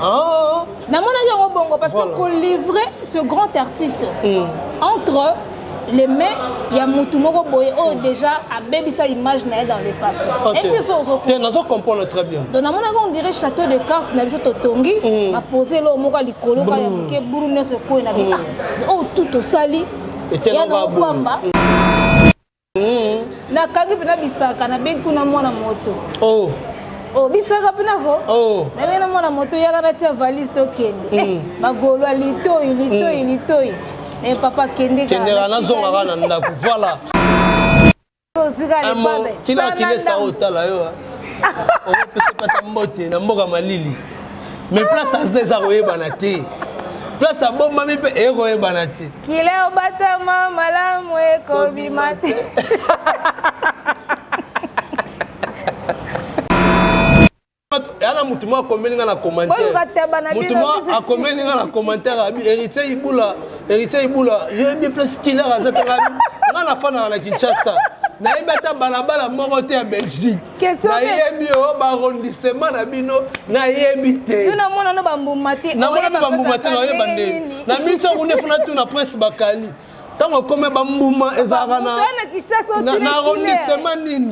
Ah. namonaki yango bongo parce que kolivre ce grand artiste mm. entre les mains ya mutu moko boye oyo déjà abebisa image na ye dans le passé nazo comprendre très bien donc namonaki on dirait château de carte na biso totongi mm. bapose eloko moko ya likolo ka ya moke buru nyonso ekoi na bino mm. ah, oyo tout tosali ya na kopamba Mm. nakangi mpena bisaka nabengi kuna mwana moto oh. Oh, bisaka mpena ko oh. nabengi na mwana moto yaka natia valise tokende mm. eh, magolo ya litoi litoi mm. litoi eh, papa kendekendeka nazonga kaka na ndako voilà kila kilesa otala yo okopesa pata mbote na mboka malili mais place aza eza koyebana te place abombami mpe ekoyebana te kila obatama malamu ekobima te yala motu moko akomeli nga na commentaire moko akomeli nga na commentaire abi héritier ibula héritier ibula yebi place killer aza tanga nga nafanaka na kinshasa nayebi ata balabala moko te ya belgique nayebi yo barondisema na bino nayebi tenamona na bambuma te nayeba nde na miso yango nde funa tuna prince bakali ntango akomi bambuma ezalaka na arondisema nini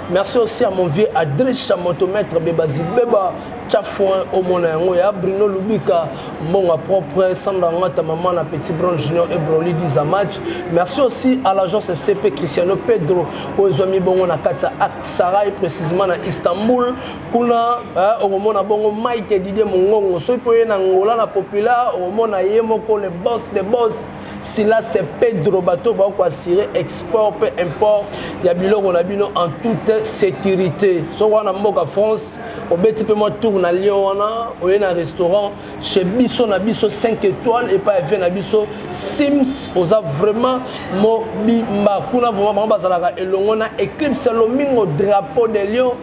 Merci aussi à mon vieux Adricha Motomètre Beba Zibeba Tchafouin Omona Yango ya Bruno Lubika Mbonga Propre Sandra Ngata Maman la Petit Brown Junior et Broly Diza Match Merci aussi à l'agence CP Cristiano Pedro Oezwami Bongo na Katia Aksaray précisément na Istanbul Kuna eh, Omona Bongo Mike Didier Mongongo Soki poye na Angola na Populaire Omona Yemoko le boss des boss Sila se Pedro bato oyo bakoki koassure export mpe import ya biloko na bino en toute sécurité soko wana mboka France obeti mpe mwa tour na lion wana oye na restaurant chez biso na biso 5 étoiles epai ya vie na biso sims oza vraiment mobimba kuna vraiment bango bazalaka elongo na éclipse lomingo drapeau de lion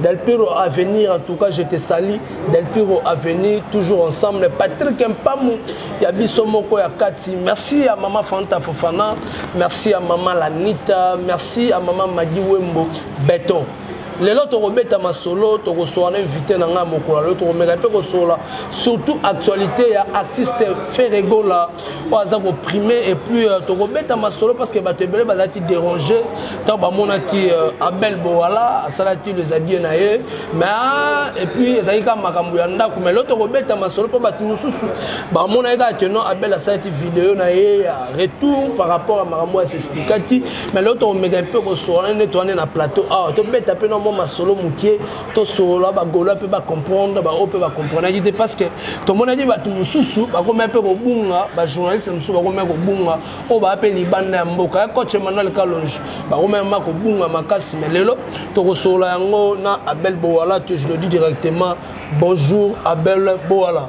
Del Piro Avenir, en tout cas, je te salue. Del Piro Avenir, toujours ensemble. Patrick Mpamu, Yabiso Moko Yakati. Merci à Maman Fanta Fofana. Merci à Maman Lanita. Merci à Maman Madi Wembo. Béton. lelo tokobeta masolo tokosola na invité na ngai mokolo lelo tokomeka mpe kosola surtout actualité ya artiste ferregola oyo aza koprime epuis euh, tokobeta masolo parce que bato ebele bazalaki dérange ntango bamonaki euh, abel bowala asalaki les abie na ye mais ah, epuis ezalaki kaka makambo ya ndako mais lo tokobeta masolo mpo bato mosusu bamonaki kaka ke non abel asalaki video na ye ya retour par rapport ya makambo oyo asexplikaki mais lo tokomeka mpe kosolana nde towane na plateau awa ah, tobeta mpe na mwa masolo moke tosolola bagolo mpe bacomprendre baoyo mpe bacomprenaki te parce que tomonaki bato mosusu bakomai mpe kobunga bajournaliste mosusu bakomai kobunga oyo baa mpe libanda ya mboka ya coach emmanuel kalonge bakomai ma kobunga makasi me lelo tokosolola yango na abel bowala to je le dis directement bonjour abel bowala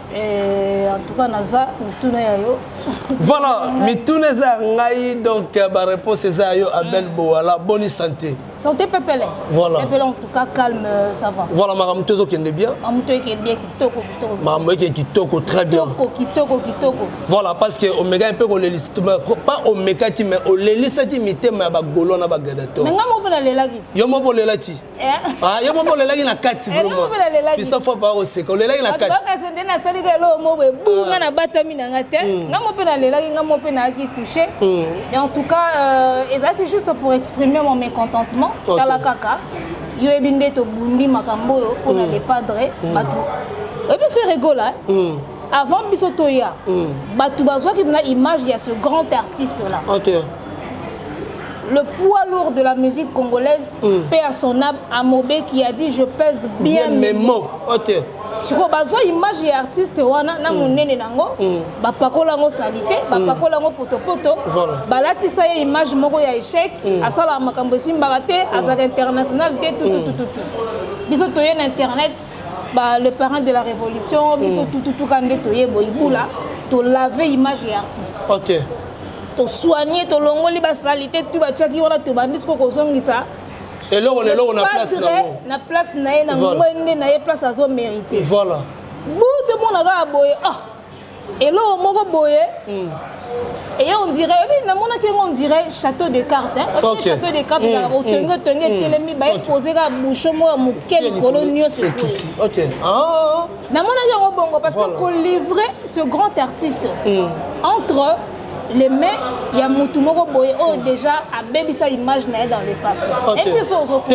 Eh, en tout cas naza mituna ya yo voilà mituna eza ya ngai donc euh, baréponse eza ya yo abel mm. boala boni santé santé pepele voilà pepele en tout cas calme euh, ça va voilà makambo to ezokende bien makambo to eke bien kitoko kitoko makambo eke kitoko très bien kitoko kitoko kitoko voilà parce que omekaki mpe kolelisa pas omekaki mais olelisaki mitema ya bagolo na bagladiateur mais ngai moko mpe nalelaki yo moko olelaki Ah, yo moko olelaki na kati vraimentpista fo baa koseka olelaki na katikasi nde nasaliki eloko moko boye bu ah. nga nabatami na nga te hmm. nga mo mpe nalelaki nga mo mpe nayaki touche hmm. mais en tout cas euh, ezalaki juste pour exprimer mon mécontentement tala kaka yo yebi nde tobundi makambo oyo mpo na hmm. le padre bato oyebi fere gola avant biso toya bato bazwaki na image ya ce grand artiste là le poids lourd de la musique congolaise, mm. paix à son âme, Amobé qui a dit je pèse bien, bien mes mots. Okay. sikoyo bazwa image ya artiste wana na mm. monene nango mm. bapakola yango salite mm. bapakola yango potopoto balatisa ye image moko ya échec asalaka makambo esimbaka te azalaka international te tututututu biso toye na internet ba, le parent de la révolution biso tututuka nde toye boyibula tolave image ya artiste okay. tosoigne tolongoli basalite tu batiaki wana tobandi siko kozongisa eloko na eloko na place na yango na place na ye na ngwende na ye place azo merite voilà butu mona kaka boye ah eloko moko boye hmm. eye on dirait oyebi namonaki yango on dirait château de carte oyebi château de carte ezalaka hmm. otongi hmm. otongi etelemi baye pose kaka boucho moko ya moke likolo nyonso boye namonaki yango bongo parce que kolivre ce grand artiste hmm. entre les mains ya mutu moko boye oyo oh, déjà abebisa image na ye dans le passé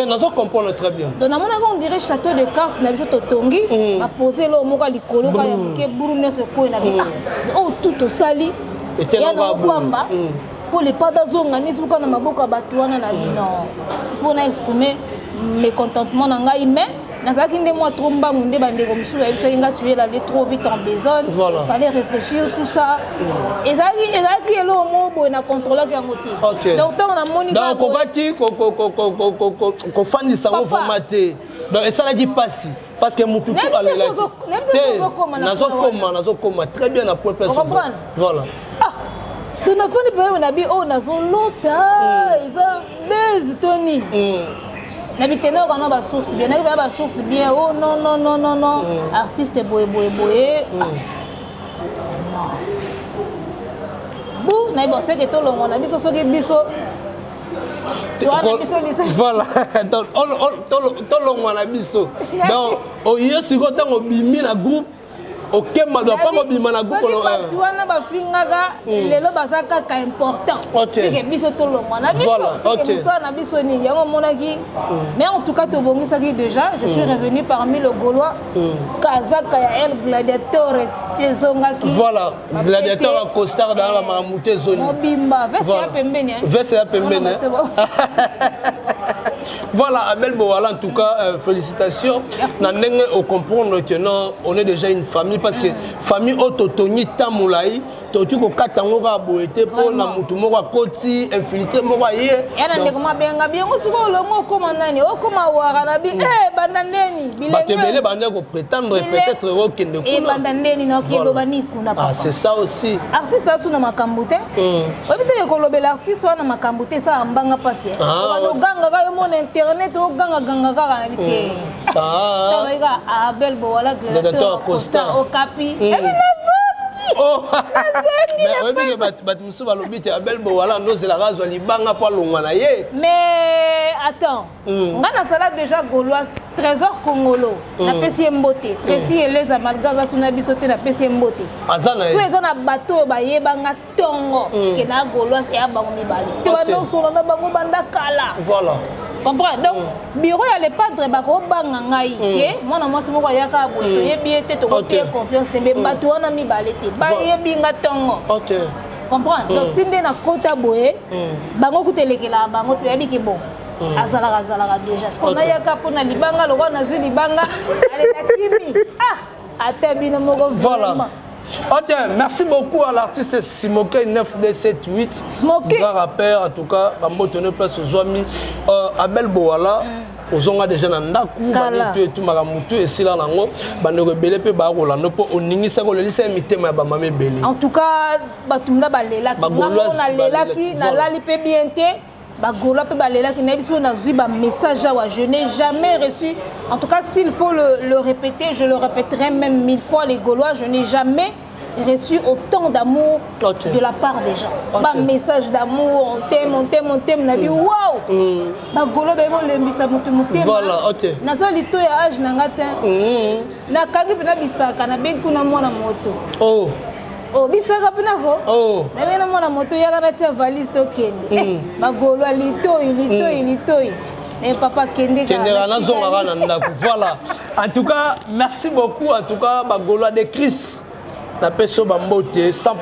nazo comprendre très bien donc namonaki on dirait château de carte na biso totongi hmm. bapose eloko moko ya likolo ka ya moke buru nyonso ekweyi na biso hmm. oyo oh, tout tosali ya na okwamba mpo lepata azonga nisi oka na maboko ya bato wana na bino il faut na exprime mécontentement na ngai mais nazalaki nde mwa trop mbangu nde bandeko mosusu bayebisaki nga tu es lale trop vite en besogne voilà. fallait réfléchir tout ça mm. ezalaki ezalaki eloko moko boye na controlaki yango te okay. donc ntango namoni donc okokaki kofandisa ngo vraimen te donc esalaki mpasi parce que motu nazokoma nazokoma très bien na point voilà ah to nafandi pembeni na bi oyo nazolota mm. eza base to nini mm. na bitendaka wana basource bien nayebi baya basource bien o oh, non non non non non mm. artiste boye boye boye ah. bu nayebi oseke tolongo na biso soki biso voilà tolongwa na biso donc oyo sikoyo ntango obimi na groupe okemba doit pas kobima na gukolo soki bato wana bafingaka hmm. lelo baza kaka important seke biso tolongwa na biso seke mosala na biso nini yango omonaki hmm. mais en tout cas tobongisaki déjà je suis hmm. revenu parmi le gaulois kazaka ya el gladiatores sezongaki voilà gladiateur ya costard dana bamakambo te ezoni mobimba veste ya pembeni veste ya pembeni Voilà, Abel Bowala, en tout cas, euh, félicitations. Nandenge au comprendre que non, on est déjà une famille parce que famille Ototoni Tamoulaï, toki kokata yango kaka boye te mpo na motu moko akoti infiltre moko aye yana ndeko mabenga biango sikoyo olongo okoma nani okoma wara na bi e eh, banda ndeni bato ebele banda kopretendre peut-être okende eh, kuna ebanda ndeni naoki eloba ni kuna ah, c'est ça aussi artiste asuna makambo te Hmm. oyebi te kolobela artiste wana makambo te esala mbanga mpasi eh. ah, ogangaka yo mona internet ogangaganga kaka na bite hmm. ah. tabaika abel bowala gladiateur costa okapi hmm. ebi nazo Oh. oyebi bato mosusu balobi te abel bowala ndozelaka azwa libanga mpo alongwa na ye mais attends Mm. nga nazala déjà gauloise trésor congolo mm. napesi ye mbote mm. tresi mm. eleza malgre aza suna biso te napesi ye mbote so eza na bato oyo bayeba nga ntongo mm. ke na gauloise eya bango mibale te banosola na bango banda kala voilà. comprendre donc mm. bureau ya le padre bakobanga ngai mm. ke mwana mwasi moko ayaka boye mm. toyebi ye te tokotie okay. confiance te mbe mm. bato wana mibale te bayebi nga ntongo okay. comprendre mm. donc ti nde na kota boye mm. bango kuta elekelaka bango toyebi ke bon Mm. azalaka azalaka deja siko nayaka mpo na libanga lokola nazwi libanga alela kimi ah ata bino moko vraiment Ok, merci beaucoup à l'artiste Simoke 9278. Smoke. Grand rappeur, en tout cas, Bamboto ne place aux amis. Euh, Abel Boala. Mm. ozonga deja na ndako banitu etumaka motu esila nango bandeko ebele mpe bakolanda mpo oningisaki olelisa ye mitema ya bamama ebele en tout cas bato mna balelaki nalelaki nalali mpe bien te bagolois mpe balelaki nayebi soki nazwi bamessage awa je n'ai jamais reçu en tout cas s'il faut le, le répéter je le répéterai même mille fois les golois je n'ai jamais reçu autant d'amour okay. de la part des gens okay. bamessage d'amour on t'aime on t'aime on t'aime na bi mm. wow mm. bagolo bayebi olembisa motu motema naza lito ya age na nga te mm. nakangi mpe na bisaka nabengi kuna mwana moto oh. obisaka mpe nako oh. meme na mwana moto yaka natia valise tokende mm. eh, magolo ya litoi litoi mm. litoi Eh, papa kendeka nazonga kaka na ndako voilà en tout cas merci beaucoup en tout cas bagolois de christ napesi yo bambote 100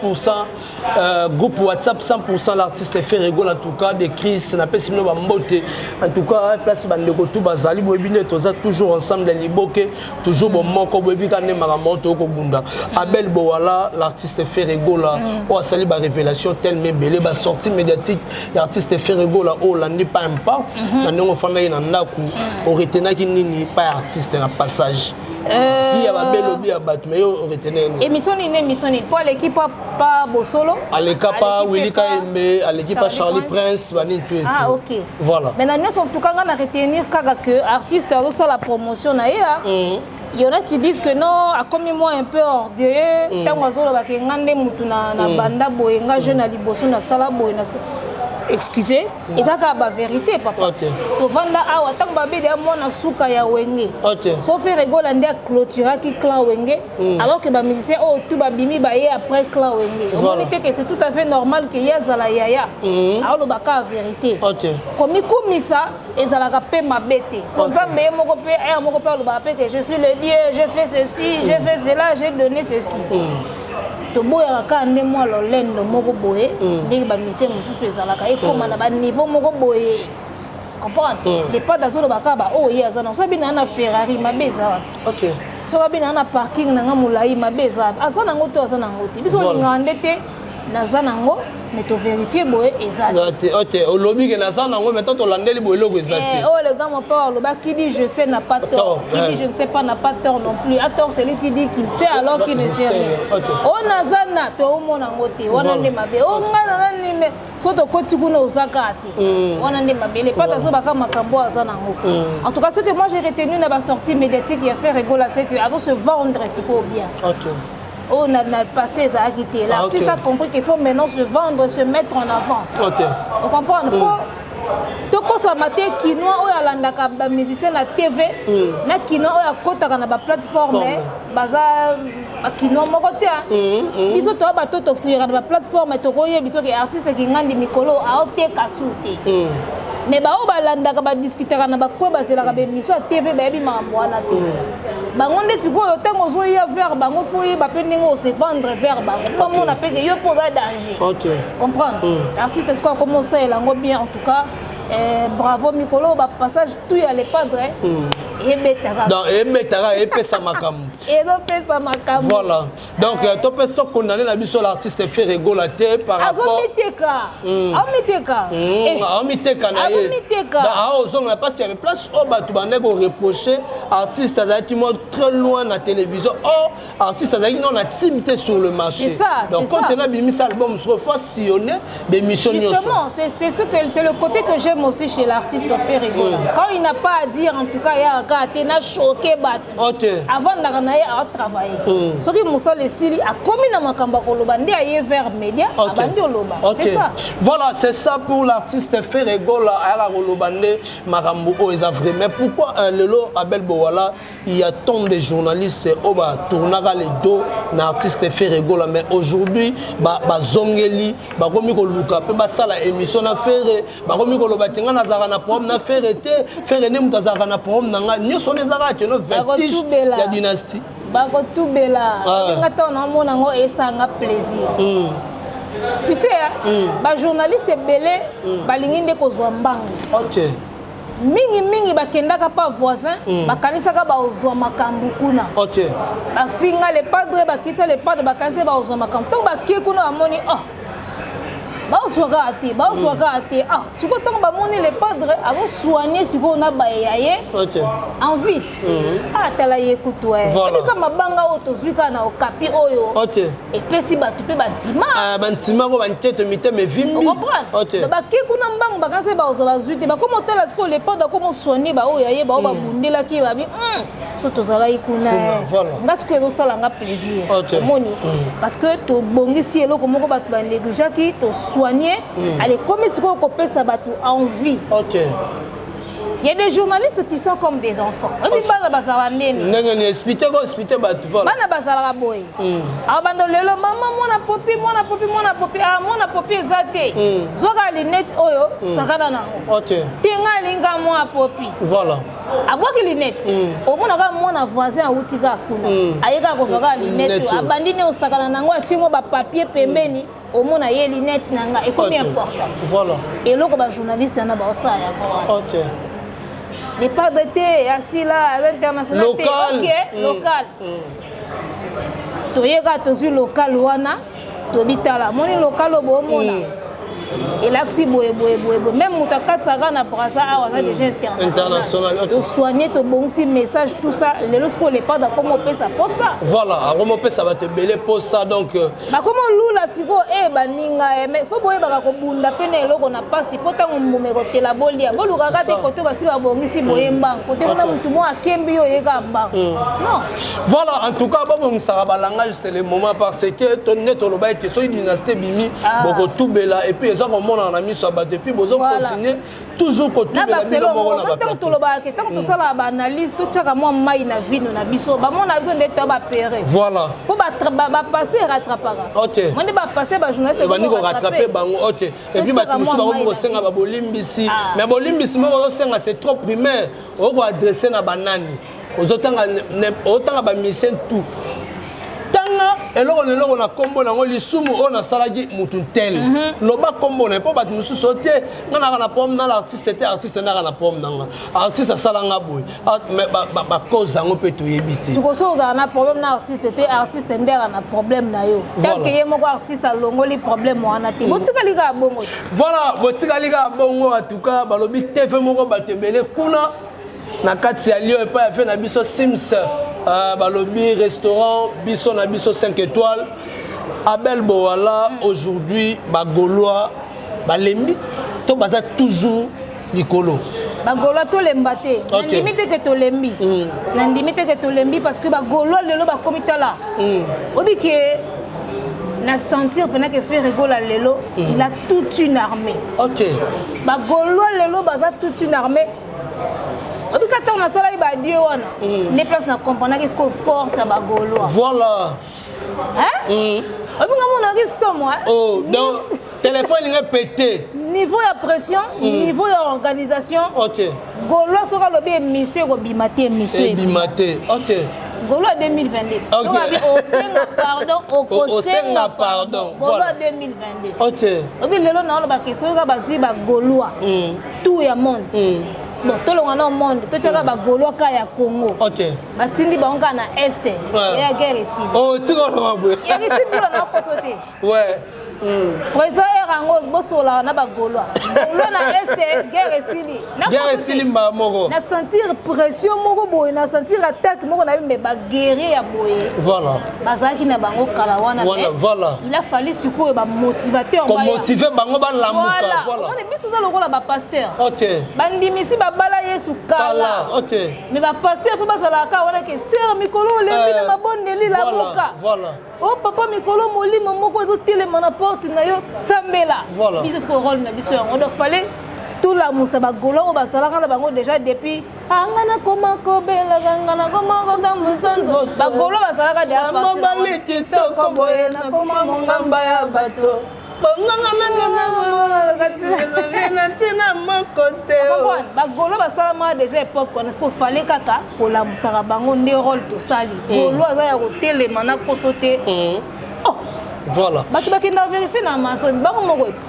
euh, groupe whatsapp 100 l'artiste ferregol en tout cas de chris napesi bino bambote en tout cas place bandeko tu bazali boyebi nde toza toujours ensemble ya liboke toujours bomoko boyebi ka nde makambo oyo tokobunda abel bowala l'artiste ferregola mm. oyo asali barévélation telme ebele basortie médiatique ya artiste ferregola oyo olandi pa imparte mm-hmm. na ndenge ofandaki na ndako mm. oretenaki nini pa ya artiste na passage Euh, vie ya babe lobi ya bato mais yo oretene ye émission nini na émission nini mpo aleki pa bosolo aleka pa wilika yembe aleki pa charlie prince banini tu ah ok Voilà. Mais na nyoso en tout cas nga na retenir kaka que artiste azo sala promotion na ye. Hein. Mm. Il y en a qui disent que non, a comme moi un peu orgueilleux, mm. tango azolo ba ke ngande mutu na na mm. banda boye nga jeune na liboso na sala boye na excusez mm. eza kaka baverité papa okay. tovanda awa ntango babedi ya mwana suka ya wenge okay. sofi regola nde aclôturaki clan wenge Mm. alors que ba musicien oyo oh, tout ba bimi ba ye après clan wenge omoni te que c'est tout à fait normal que ye azala yaya mm. aoloba ka vérité komikumisa ezalaka mpe mabe te po nzambe ye moko mpe aya moko mpe alobaka mpe que je suis le dieu je fais ceci je mm. fais cela j'ai donné ceci toboyaka kaka nde mwa lolendo moko boye ndenge bamisie mosusu ezalaka ekóma na baniveau moko boye comprendre lepade azolobaka baoyo ye aza na soki bina na ferrari mabe eza wapi okay. soki abendaka na parking na nga molai mabe eza aza nango to aza nango te biso olingaka nde te naza nango me toverifie boye eza te olobi ke naza nango me to tolandeli boye eloko eza te eh, oyo oh, le grand mopao aloba qui dit je sais n'a pas tort qui dit je ne sais pas n'a pas tort non plus a tort celui qui dit qu'il sait alors qu'il ne sait rien oyo oh, naza na toomona yango te wana nde mabe o oh, ngai na nani so tokoti kuna oza kaka te mm. wana nde mabele pata azobaka makambo oyo aza nango mm. en tout cas ce que moi j'ai retenu na basortie médiatique ya frère egola ce que azo se vendre sikoyo bien oyo oh, na, na passé ezalaki te ah, l'artiste a compris qu'il faut maintenant se vendre se mettre en avant ocomprendre mm. po tokosama te kinois oyo alandaka bamusicien na tv na kinois oyo akotaka na baplateforme baza bakino moko te ah. mm, mm. biso toya bato tofuyaka na baplateforme tokoye biso ke artiste kingandi mikolo aoteka su te mm. mais baoyo balandaka badiskutaka na bakwe bazelaka bemission ya tv bayebi makambo wana te bango nde sikoyo ntango ozoya vers bango fo oyeba mpe ndenge ose vendre vers bango mpo amona mpe ke yo mpo oza danger comprendre artiste sikoyo akoma osalela yango bien en tout cas eh, bravo mikolo bapassage tout ya le padre ebetaka donc ebetaka epesa makambo ezopesa makambo voilà donc ah. euh, topesi tokondane na biso l'artiste fere gola te par rapport azomiteka hmm. aomiteka hmm, eh. aomiteka na ye aozongela parce que place oyo bato bandaki koreproche artiste azalaki mwa très loin na télévision or oh, artiste azalaki nao na time te sur le marché donc quand elle abimisa album soko fo sillonne bémission justement c'est ce que c'est le côté que j'aime aussi chez l'artiste Ferrigola mm. quand il n'a pas à dire en tout cas ya ka te na choqué bato okay. avant ndaka na ye a travailler mm. soki mosala esili akomi na makambo ya koloba nde aye vers média okay. abandi oloba okay. c'est ça voilà c'est ça pour l'artiste Ferrigola ayaka koloba nde makambo oyo eza vrai mais pourquoi euh, lelo Abel Bowala Il y a tant de journalistes au oh, bas tournaka les dos na artiste Ferre Gola mais aujourd'hui ba ba zongeli ba komi ko luka pe ba sala émission na Ferre ba komi ko loba tinga na zaka na problème na Ferre te Ferre ne muta zaka na problème na nga nyoso ne zaka te no vertige ya dynastie ba ko tubela ah. nga to na mona ngo esanga plaisir mm. tu sais mm. ba journalistes belé mm. balingi nde ko zwa mbangu okay mingi mingi bakendaka pa voisin mm. bakanisaka baozwa makambo kuna okay. bafinga le padre bakita le padre bakanisaka baozwa makambo ntango bake kuna bamoni oh bazwa kaka te bazwa kaka te ah sikoyo ntango bamoni le padre azosoigne sikoyo na baye ya ye en vite atala ye kutu ebika mabanga oyo tozwi kaka na okapi oyo epesi bato mpe bantima ah, bantima ngo banketo mitema evimbi bake kuna mbangu bakanisa baoza bazwi te bakoma otala sikoyo lepada akoma oswani baoyo yaye baoyo hmm. babundelaki babi hmm, so tozalaki kuna nga sikoyo ezosala nga plaisir omoni hmm. parce que tobongisi eloko moko bato banegligeaki toswani ale ekomi sikoyo kopesa bato envie Il y a des journalistes qui sont comme des enfants. Obi bana bazala nene. Nene ni expliquer ko expliquer ba tu vois. Bana bazala ba boy. Hmm. Ah bando lelo maman mwana popi mwana popi mwana popi ah mwana popi ezate. Hmm. Zoka lunette oyo hmm. sakana na. OK. Tinga linga mwa popi. Voilà. abwaki lunette omonaka mwana voisin awuti kaka kuna ayekaka kozwa kaka lunette abandi ne osakana na yango atie mwa bapapier pembeni omona ye linete na nga ekomi important voilà eloko ba journaliste yana baosala yango ok le padre te asila aza international te ok mm. local mm. toyeka tozwi local wana tobitala moni local oyo boomona mm. elakisi boye boye boye boye meme moto akatisaka na brasa awa aza déjà international tosoigne tobongisi message tout ça lelo sikoyo lepade akoma opesa mposa voilà akoma opesa bato ebele mposa donc euh, bakoma olula sikoyo e baninga e mais fo boyebaka kobunda mpe na eloko na mpasi mpo ntango mbuma ekotela bolia bolukaka te kote basi babongisi boye mbango kote kuna motu moko akembi yo oyeka mbango mm. non voilà en tout cas babongisaka balangage c'est le moment parce que to nde toloba ete soki dynastie ebimi ah. bokotubela epuis eza komonana na miso ya bato epuis bozokontinue toujours kotubela bino moko na batango tolobaka ke ntango tosalaka baanalyse totyaka mwa mai na vino na biso bamona na biso nde to bapere voilà mpo bapasse erattrapaka ok mo nde bapasse bajournaliste ebandi korattrape bango ok epuis bato mosusu bakomi kosenga babolimbisi mais bolimbisi moko ozosenga c'est trop primaire okoadresse na banani ozotanga otanga bamise tout tanga eloko na eloko na nkombo nango lisumu oyo nasalaki motu ntele mm -hmm. loba nkombo na mpo bato mosusu o te nga naka na pome nala artiste te artiste naka na pome nanga artiste asala nga boye bacause yango mpe toyebi te siko soki ozala na problème na artiste te artiste nde aka na problème na yo tanke ye moko artiste alongoli problème wana te mm. botikali kaka bongo voilà botikali kaka bongo en tout cas balobi tv moko bato ebele kuna na kati ya lio epai ya vie na biso sims uh, balobi restaurant biso na biso 5 étoiles abel bowala mm. aujourd'hui bagolois balembi to baza toujours likolo bagolois tolemba te okay. nandimi te te tolembi mm. nandimi te te tolembi parce que bagolois lelo bakomi tala mm. obi ke na sentir mpena ke frere egola lelo mm. il a toute une armée okay. bagolois lelo baza toute une armée obika ntango nasalaki badieu wana mm. nde place na comprenaki sikoyo force ya bagolois voilà mm. obika monaki somo oh, donc telefone elingi epete niveau ya pression mm. niveau ya organisation okay. golois soki alobi emission ekobima te emission ebima te okay. golo ya 2022 soki abi osenga pardon okosenga pardon golo ya 2022 obi lelo naoloba ke soki kaka bazwi bagolois tour ya monde mm. bon tolonga na monde totiaka mm. bagaulois ka ya congo okay. batindi bango kaka na este ouais. ya guerre esili oh, tikoloba boye yaki tindilo na koso te ouais. Mm. président heure yango bosolaka na bagaulois gaulois na este guerre esili guerre esili mbaa moko na sentir pression moko boye na sentir attaque moko na bimbe baguerrier ya boye voilà bazalaki na bango kala wana wana voilà il a fallu sikoyo ba motivateur ko motiver bango ba lamuka voilà on biso za lokola ba pasteur OK bandimisi ba bala Yesu kala OK mais ba pasteur faut bazala ka wana ke sœur mikolo olembi eh, na mabondeli lamuka voilà oh papa mikolo molimo moko ezotelema na porte na yo sambela biso sikoyo role na biso yango donc fallait tolamusa bagolo oyo bazalaka na bango déjà depuis anga nakoma kobelaka nga nakoma kotambusa nzoto bakolo basalaka deamobali kitoko boye nakoma mongamba ya bato bonganga nangaakati ezali na ntina moko te oh. bagolo basalamaka deja epoke wana siko fale kaka kolamusaka bango nde role tosali mm. golo aza ya kotelema na koso te mm. oh. voilà bato bakenda verifie na amazon bango moko ete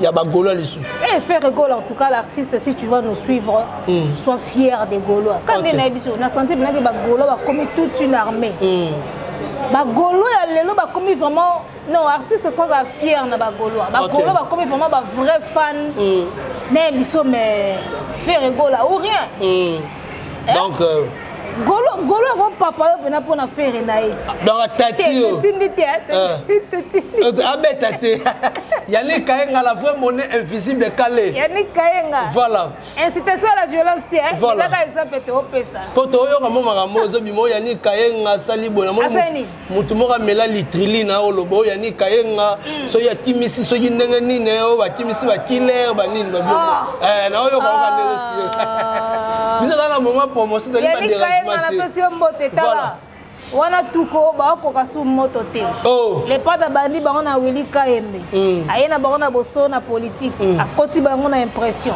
ya ba Gaulois lisusu. Eh hey, frère Gaulois en tout cas l'artiste si tu vas nous suivre mm. sois fier des Gaulois. Quand okay. na biso na santé bina que ba Gaulois ba comme toute une armée. Mm. Ba Gaulois ya lelo ba comme vraiment non artiste France a fier na ba Gaulois. Ba okay. Gaulois ba comme vraiment ba vrai fan. Mm. Na biso mais frère Gaulois ou rien. Mm. Eh? donc euh, golo golo yango papa yo mpena mpo na fere na ye donc atatitindi te abeta te yannick kayenga la vraie monnaie invisible kale yannick kayenga voilà incitation à la violence te ezaka exemple te opesa mpo toyoka mo makambo ozobima oyo yannick kayenga asali boye namoni moto moko amela litrili na oloba oyo yani kayenga mm. soki akimisi soki ndenge nini oyo bakimisi bakiller banini babio ah. eh, na oyo baoka ah. ndenge sio biso kaka na moment promotion toli baderasmapesi yo mbote tala wana tuko bakokoka su moto te oh. lepata bandi bango na wili kayembe mm. aye na bango na boso na politike mm. akoti bango na impression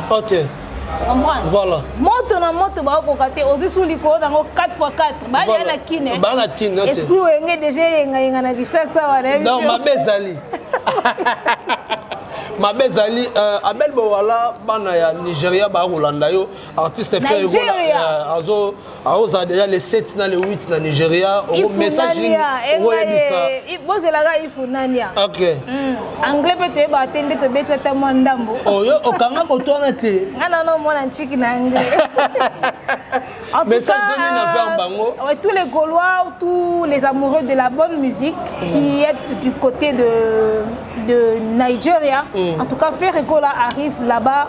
Voilà. Moto na moto ba ko kate ozi sous likolo nango 4 fois 4. Ba ya na kine. Eh. Ba na kine. Eh, Esprit wenge déjà yenga yenga na Kinshasa wa na. Non, ma bezali. mabe ezali euh, abel bowala bana ya nigeria bakolanda yo artiste fer azo aoza deja le 7 na le 8 na nigeria ongo message nini okoyebisa bozelaka ifu nania ok hmm. anglais mpe toyebaka te nde tobeti ata mwa ndambo oyo oh, okanga moto wana te nga nana omona nciki na anglais message nini na verbe bango euh, tous les gaulois tous les amoureux de la bonne musique mm. qui est du côté de de Nigeria. Mm. En tout cas, Ferregola arrive là-bas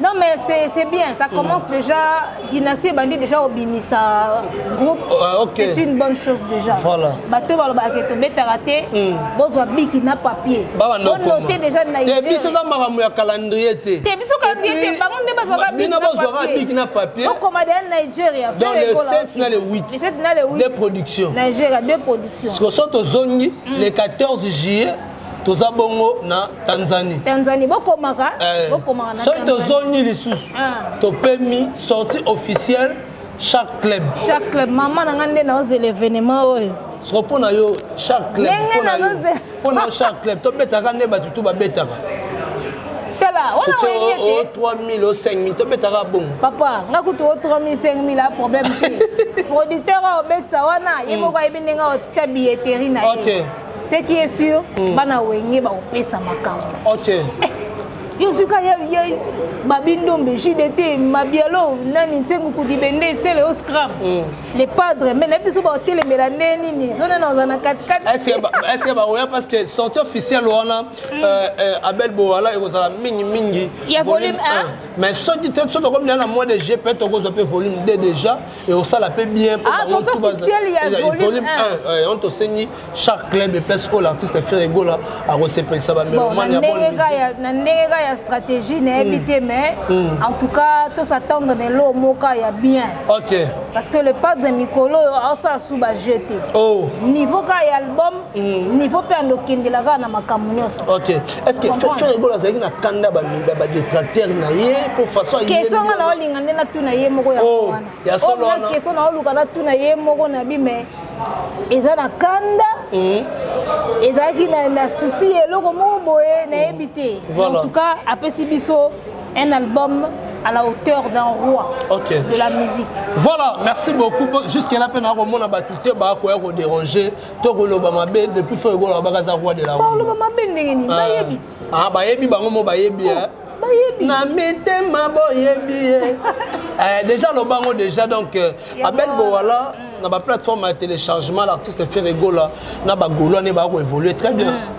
Non mais c'est bien, ça commence mm. déjà, dynastie et bandit déjà au Bimisa groupe, euh, okay. c'est une bonne chose déjà. Voilà. Bateau baloba ke to betara te, mm. bozwa biki na papier. Ba noter déjà na Nigeria. Te biso na makambo ya calendrier te. Te biso calendrier te, bango nde bazwa biki na papier. Bino bazwa biki na papier. Au commandé na Nigeria. Dans les 7 na les 8. Les 7 na les 8. Des productions. Nigeria, deux productions. Ce que sont aux zongi, mm. les 14 juillet toza bongo na tanzanie tanzanie bokomaka eh, bokomaka na soki tozongi lisusu ah. topemi sortie officielle chaque club chaque club mama na ngai nde naozela événement oyo soko mpo na yo chaque club mpo na yo chaque club tobetaka nde bato tu babetaka tala wana oyebi ete o 3000 o 5000 tobetaka bongo papa nga kutu o 3000 5000 a problème te producteur aobetisa wana ye hmm. moko ayebi ndenge otya billetterie na ye Ce qui est sûr, mm. bana wenge ba opesa makambo. OK. Eh, yo suka ya ya babindombe JDT mabialo nani nsengu kudibende sele au scram. Mm. Les padres mais na biso ba telemela neni ni zona na zona kati kati. Est-ce que est-ce que ba oya parce que sortie officielle wana mm. euh, euh, Abel Boala ekozala mingi mingi. Ya volume 1. Mais soki te soki tokomi na mois de juillet peut-être okozwa pe volume 2 déjà. ekosala mpe bien ah, volume 1 on tosengi chaque club epese oyo l'artiste fere egola akosepelisa bamelomana ndenge ka ya stratégie nayebi hmm. te mais hmm. en tout cas tosattendre na eloo moka ya bien ok parce que le padre mikolo oyo aosala su baje te oh. niveau ka ya album hmm. niveau mpe andokendela kaka na makambo nyonso Est-ce que Ferre Gola azalaki na kanda ba ba détracteur na ye pour façon ayi. Question nga na olinga nde na tuna ye moko ya oh, wana. Ya solo oh, wana. Question na oluka na tuna ye moko na bi mais eza na kanda. Hmm. Ezalaki na na souci eloko moko boye na yebi te. En tout cas apesi biso un album à la hauteur d'un roi okay. de la musique. Voilà, merci beaucoup. Jusqu'à la peine, on a battu, on a déranger. to koloba mabe depuis fo ekola babaka aza roi de la koloba mabe ndenge nini ah. bayebi ti ah, bayebi bango mo bayebi oh, eh. bayebi na mitema boyebi ye eh, déjà lobango déjà donc euh, abel bowala mm. na baplateforme ya téléchargement l'artiste ferre egola na bagolwane bakoévolue très bien mm.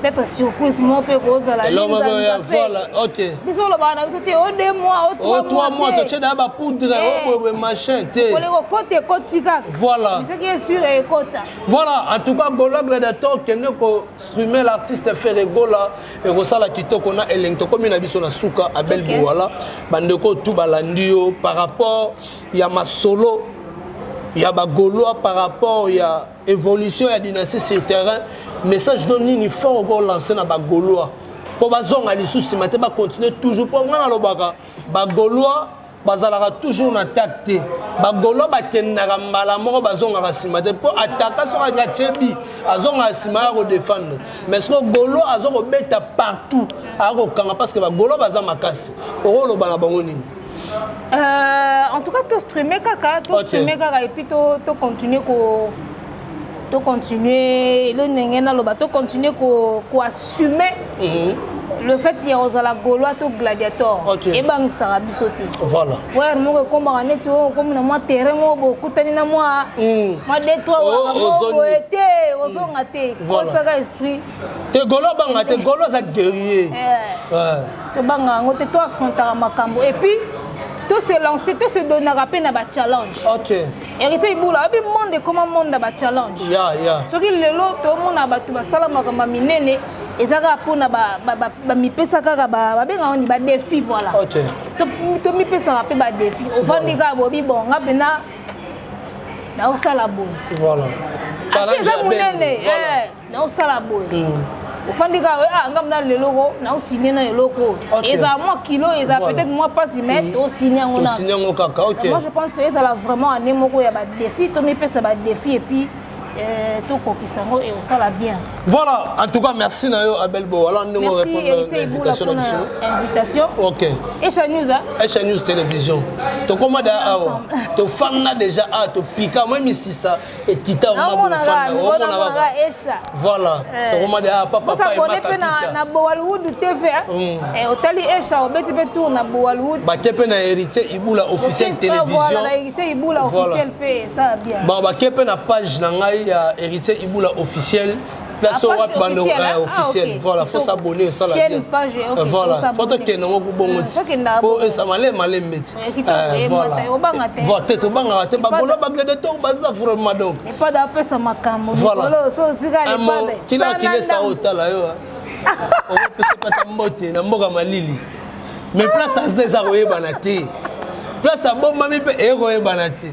peut-être surprise moko mpe kozala biso olobaka na biso te o deux mois o trois mois totie na ya bapoudre oboyeboye eh. machin te kole kokota ekoti kaka voilà soki esure ekota voilà en tout cas gologle de to kende kostrume l'artiste ferre gola ekosala kitoko na elengi tokomi na biso na suka abel biwala bandeko tu balandi yo par rapport ya masolo ya bagolois par rapport ya evolution ya dynastie sur terrain message no nini fort oko lance na bagaulois mpo bazonga lisusu nsima te bacontinue toujours mpo ngai nalobaka bagaulois bazalaka toujours na attaque te bagaulois bakendaka mbala moko bazongaka nsima te mpo ataka soki alingi atyebi azongaka nsima ya kodefendre mais soko gaulois aza kobeta partout akokanga parce que bagaulois baza makasi okoloba na bango nini Euh, en tout cas, to streamer kaka, to okay. streamer kaka et puis to, to continuer ko to continuer le ndenge na loba to continuer ko ko assumer mm -hmm. le fait ya ozala gaulois to gladiator okay. ebangisaka biso te voilà. wer moko ekomaka neti oyo okomi na mwa terrain moko bokutani na mwa mm. mwa detroit oh, moko boye te ozonga te mm. kotisaka esprit te golo abanga te golo aza guerrier eh. tobanga yango te to affrontaka makambo et puis to se lancer to se donnaka mpe na bachallenge héritier ibula abi monde ekoma monde na bachallenge soki lelo tomona bato basala makambo ya minene eza kaka mpona bamipesa kaka babenga wani badefi voilà tomipesaka mpe badefi ovandi kaka bobi bon nga mpena naosala boye eza monene eh. na osala boye mm. ofandi kaka ah nga mna leloko na osigne na eloko ezala mwa kilo ezala peut-être mwa mpasi mais mm. tosigne yango na yango kaka ok moi je pense que ezala vraiment année moko ya badefi tomipesa badefi et puis euh, tokokisa yango e osala bien voilà en tout cas merci na yo abel bo wala ndenge orépondre na invitation ok echa news echa news télévision tokoma da awa tofanda déjà a topika moi misisa ekita omonaka esha voilà eh. tokoma de ah, papa papa s'abonner pe na na Bollywood TV hein. mm. eh otali esha obeti pe tour na Bollywood ba kepe na héritier ibula officiel télévision voilà na héritier ibula officiel pe ça bien ba ba kepe na page na ngai ya héritier ibula officiel place oyo wapi bando officiel ah, voilà faut s'abonner esala bien euh, voilà faut tokende ngo kubongo ti po esa malemi malemi beti eh, euh, voilà te tobangaka te bagolo baglede to baza vraiment donc kila kilesa oyo tala yo okopesa pata mbote na mboka malili mais place aza eza koyebana te place abombami mpe ekoyebana te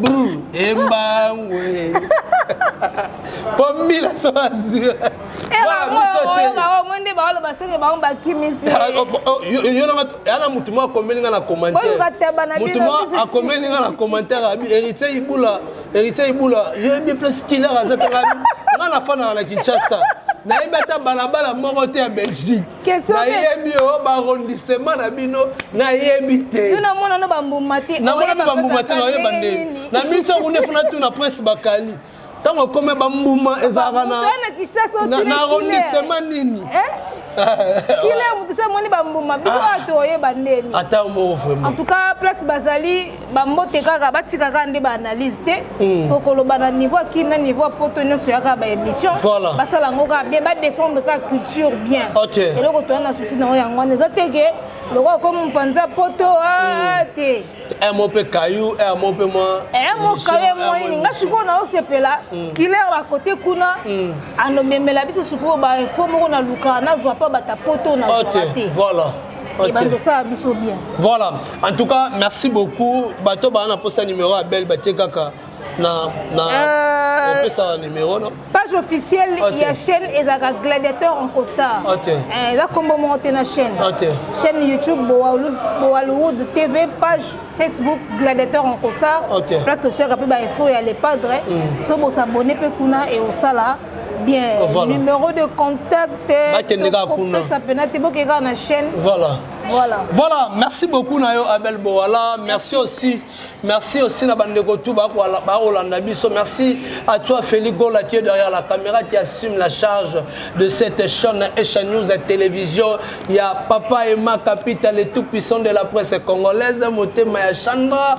Brr, embangu. Po mila so azwi. omoni nde baoloba soki bango bakimisi ah, oh, oh, yana motu moko akomeli nga na commentairmotu moko akomeli nga na commentaire abi héritier ibula héritier ibula yebi place kiler aza tanga nga nafanaka na kinshasa nayebi ata balabala moko te ya belgique nayebi yo barondisema na bino nayebi tenamona na bambuma te nayeba nde na miso yango nde funa tuna prince bakali ntango ekome bambuma ezalaka na arondisema nini eh? kile moto se amoni bambuma biso ah. ato oyeba ndeni ata moko vraiment en tout cas place bazali bambote kaka batika kaka nde baanalyse te hmm. okoloba na niveau ya kini na niveau ya poto nyonso ya kaka baémission basala yango kaka bien badefendre kaka culture bien eloko toya na souci nango yango wana eza te ke lokola ko mopanza poto ah, hmm. te mo mpe kayu mo mpe mwa mo kayu mwa nini nga sikoyo naosepela hmm. kiler bakote kuna anomemela biso sikoyo bainfo moko na luka nazwa mpa bata poto nazwaka te Okay. bandosala biso bien voilà en tout cas merci beaucoup bato baa na mposa numéro ya belle batie kaka na na euh, opesaka numéro no page officielle okay. ya chaîne ezalaka gladiateur en costar okay. eh, eza nkombo moko te na chaîne okay. chaîne youtube bowaluwood tv page facebook gladiateur en costar okay. place totiaka mpe bainfo ya le padre mm. so bosabone mpe kuna e osala bien ah, voilà. numéro de contact bakendekakopesa pena te bokei kaka na chaîne voilà Voilà. voilà merci beaucoup na yo abel bowala merci aussi merci aussi na bandeko tu bakolanda biso merci à toi félix gola qui est derrière la caméra qui assume la charge de cette chaîne echa news à télévision ya papa ema capital et tout puissant de la presse congolaise motema ya chandra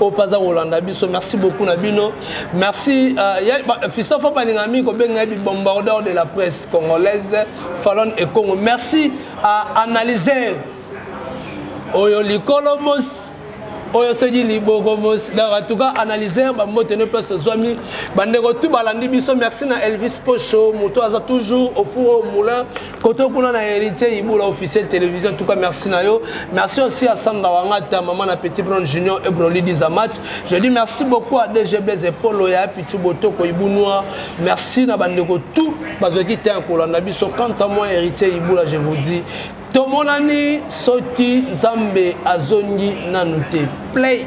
oyo mpe aza kolanda biso merci beaucoup na bino merci euh, fistof abalinga mingi kobenga ye bibombardeur de la presse congolaise falon e congo merci à analyser oyo likolo mosi oyo soki liboko mosi donc en tout cas analyser bambote no place ozwami bandeko tu balandi biso merci na elvis pocho moto aza toujours au four au moulin koto kuna na héritier ibola officiel télévision en tout cas merci na yo merci aussi à samba wangata maman na petit brand junior et broli disa match je dis merci beaucoup à DG Blaise Polo ya Pichu Botoko Ibunwa merci na bandeko tout bazwaki temps kolanda biso quant à moi héritier ibola je vous dis tomonani soki nzambe azongi nanu te play